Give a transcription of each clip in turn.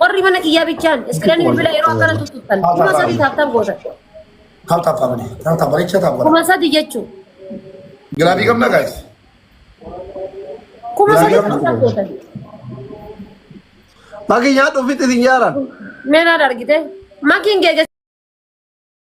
Warri mana kiyyaa bichaan iskireen bilbila yeroo akkana tuttuqtan kuma sadii taaftan gootan. Taaf taaf taaf malee. Taaf taaf bareecha taaf godha. Kuma sadii jechuun Gilaabii qabna gaayis. kuma sadii taaftan gootan. Maki nyaadhu ofitti isin yaaran. Meenaad argite makiin geegessa.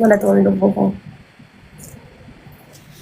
Galatoomi lubbuu koo.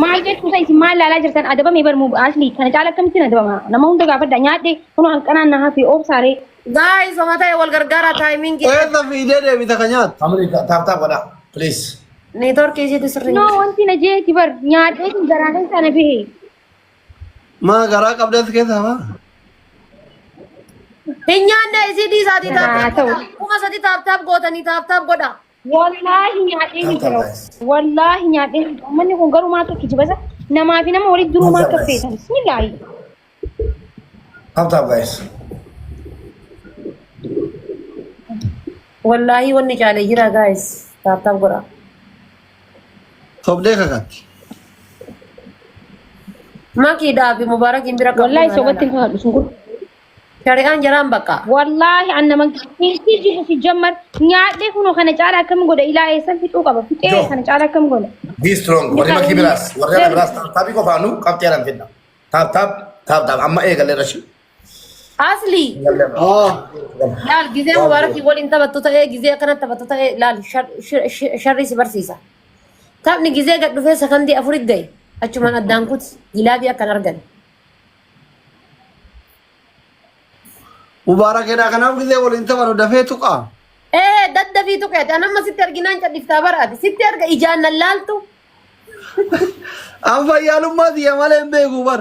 Maal jechuu isa isin maal ilaalaa jirtan adabame bar muu asli kana caala akkamittiin adabama nama hunda gaafadha nyaadhe kunoo hanqanaan na hafe oobsaaree Guys, homa ta'e wal gargaara timing Eessa fiidee deebita ka nyaatu? Family taap taap godhaa. Please. network isiitu sirrii. kunoo wanti na jeeti bar nyaadhee kun garaa keessaa na bahe Maa garaa qabda as keessaa baa? Hin nyaanne isii dhiisaatii Haa taaptaap ta'u. godhaa. Kuma sadi taaptaap gootanii taaptaap godhaa. Wallaahi nyaadhee ni jira. Wallaahi nyaadhee ni jira. Manni kun garuu maaltu kijiba isa? Namaa fi nama walitti duruu maal akka feetan? Bismillaahi. Taaptaap gaayis. Wallaahi wanni caalee jira gaayis taaptaap godhaa. Sobdee kakatti. Makii dhaabi mubaarakiin bira qabdu Wallaahi sobatti hin haadhu sun kun. Shari'aan jaraan bakka. Wallaahi an nama keessi jibu si jammar nyaadhee kunoo kana caala akkam godha ilaa eessan fixuu qaba fixee Joo. kana caala akkam godha. Be strong. Warri makii biraas. Warri ala biraas. Taaptaabii qofaanuu qabxii alan fidna. Taaptaap taaptaap amma eegalee rashii. Asli Haa. laal gizee mubaarakii waliin taphattu ta'ee gizee akkana taphattu ta'ee laal shar- shir- shir- sharrii si barsiisa. Taphni gizee gad dhufee sakandii afurit gahe achumaan addaan kuti gilaabii akkan argan. Mubaarakeedhaa kanaaf gizee waliin taphatu dafee tuqaa. Ee daddafii tuqeeti an amma sitti arginaan cadhiftaa baraati sitti arga ijaan nan laaltu. An fayyaalummaa tiyya malee hin beeku bar.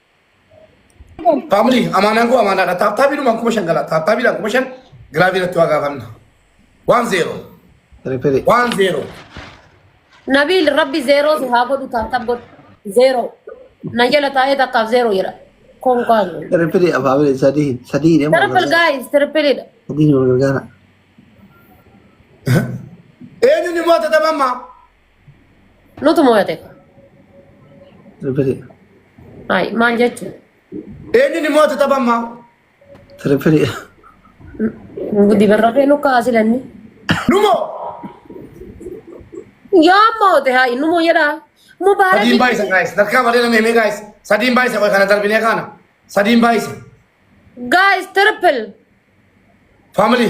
Family amaanaan koo amaanaadha. Taattaabiidhumaan kuma shan gala. Taattaabiidhaan kuma shan giraafii irratti waa gaafanna. Waan zeeroo. Ripiri. Waan zeeroo. Nabiil rabbi zeeroo si haa godhu taattab godhu. Zeeroo. Na jala taa'ee takkaaf zeeroo jedha. Konkaan. Ripiri afaamile sadii sadii deema. Triple guys, triple dha. Sadii nama gargaara. Eenyuun immoo tatama ammaa? Nutu mo'ate. Tiripilii. Hayi maal jechuun? Eenyuun immoo tu tapha ammaa? Tiripilii. Dibarrafee nu kaasi lanni. Numoo! Yaa mo'ate hayi nu moo jedhaa. Mubaarak. Sadiin baay'isa gaayis. Darkaa malee nama himee gaayis. Sadiin baay'isa qoy kana darbinee kaana. Sadiin baay'isa. Guys triple. Family.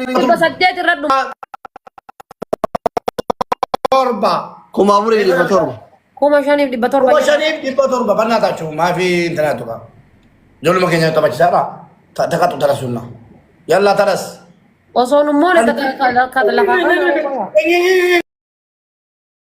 torba saddeet irra dhuma. torba kuma afurii dhibba torba Kuma shaniif dhibba torba. kuma shaniif dhibba torba bannaa taachuu maafi intanaa tuqa ijoolluma keenya taphachisaa dha taphatu tarasuunna yallaa taras Osoo nummoone kata lafaa.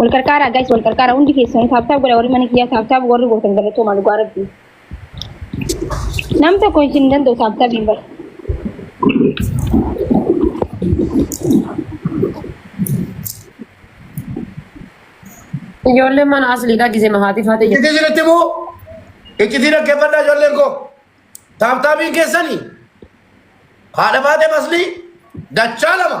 Wal qarqaaraa guys wal qarqaaraa hundi keessan taabtaab godha warri mana kiyyaa taabtaab warri gootan galatoomaa dhugaa rabbi. Nam tokko isin hin danda'u taabtaab hin bara. Ijoolleen mana asliidhaa gisee mahaatii faatee jirti. Iccitii isinitti bu'u. Iccitii dhaggeeffadhaa ijoolleen koo. Taabtaabiin keessanii haadha baatee maslii dachaa lama.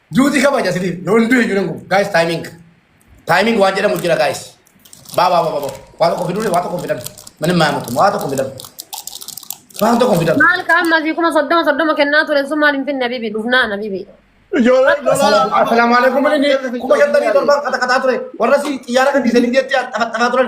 Duuti kabaja sitiif. Yoo hin du'e jiran kun. Guys timing. Timing waan jedhamu jira guys. Baa baa baa baa baa. Waa tokko fiduu waa tokko fidan. Manin maa mutu waa tokko fidan. Waan tokko fidan. Maal ka amma asii kuma soddoma soddoma kennaa ture sun maal hin finne habibi dhufnaa habibi. Assalaamu alaikum. Kuma shantamii torban qaxaqaxaa ture. Warra si xiyyaara kan dhiisanii biyyaatti taphataa turan.